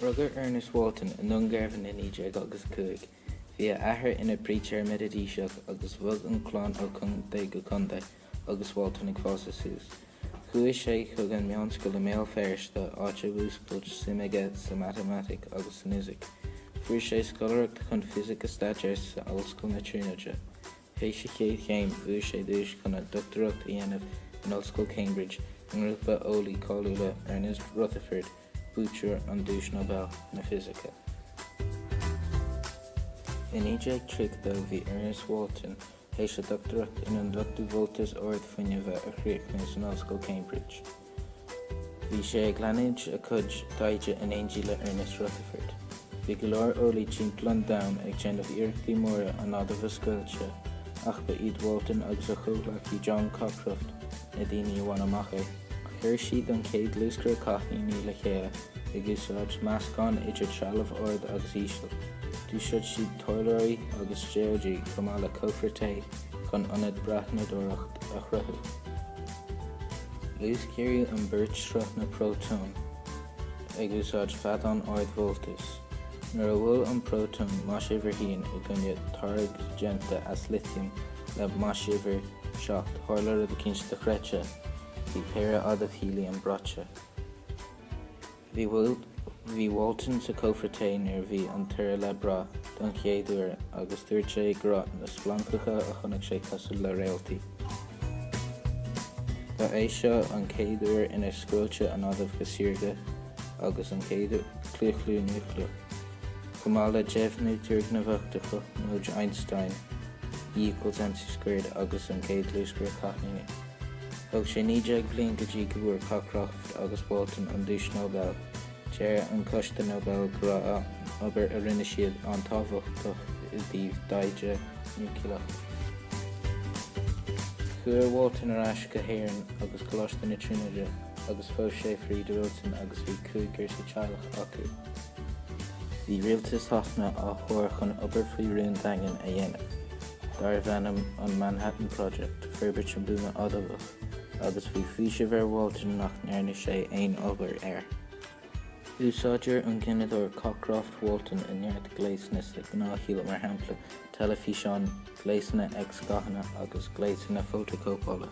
Rugadh Ernest Walton i nDún Garbhán i 1905. Bhí a athair ina phreacher Meididíseach agus bhog an chlann ó chontae go contae agus Walton ag fás suas. Chuaigh sé chuig an meánscoil i mBéal Feirste, áit a mhúscailt suim aige sa matamaitic agus san fhisic. Fuair sé scoláireacht chun fisic a staidéar sa Ollscoil na Tríonóide. Théis a chéad chéim, fuair sé duais chun a dochtúireacht a dhéanamh in Ollscoil Cambridge i ngrúpa eolaí cáiliúla, Ernest Rutherford, buaiteoir an Duais Nobel na Fisice. I 1930 bhí Ernest Walton théis a dhochtúireacht in Ionduchtú Voltais Ard-Fhuinnimhe a chríochnú san ollscoil Cambridge. Bhí sé ag leanúint a chuid taighde in éindí le Ernest Rutherford. Bhí go leor eolaí timpeall an domhain ag déanamh iarrachtaí móra an adamh a scoilteadh ach ba iad Walton agus a chomhghleacaí John Cockcroft na daoine a bhain amach é. Chuir siad an chéad luascaire cáithníní le chéile ag úsáid meascán idir trealamh ard agus íseal. D'úsáid siad toilleoirí agus déóidí chomh maith le cófra tae chun ionad breathnadóireacht a chruthú. Luasghéaraigh an bheirt sruth na bprótón ag úsáid feadán ardvoltais. Nuair a bhuail an prótón maisuimhir 1 i gcoinne targaid déanta as litiam le maisuimhir 7, tharla rud eicínt dochreidte, bhí péire adamh héiliam braite. Bhí Walton sa chófra tae nuair a bhí an toradh le brath don chéad uair agus dúirt sé go raibh na splancacha a chonaic sé cosúil le réaltaí. Ba é seo an chéad uair inar scoilteadh an adamh go saorga agus an chéad chlaochlú núicléach, chomh maith le deimhniú turgnamhach de chothromóid Einstein, E equals mc squared, agus an chéad luascaire cáithníní. Thóg sé naoi déag bliain go dtí go bhfuair Cockroft agus Walton an Duais Nobel. Deir an Coiste Nobel go raibh an obair a rinne siad an-tábhachtach i dtaobh taighde núicléach. Chuaigh Walton ar ais go hÉirinn agus Coláiste na Tríonóide agus phós sé Frieda Wilson agus bhí cúigear sa teaghlach acu. Bhí rialtas Shasana á thuar chun obair faoi rún daingean a dhéanamh. darbh ainm an Manhattan Project, forbairt an bhuama adamhach, agus bhí faoiseamh ar Walton nach ndearna sé aon obair air. Úsáidtear an gineadóir Cockcroft-Walton i neart gléasanna sa ghnáthshaol, mar shampla, teilifíseáin, gléasanna x-ghathanna agus gléasanna fótachóipeála.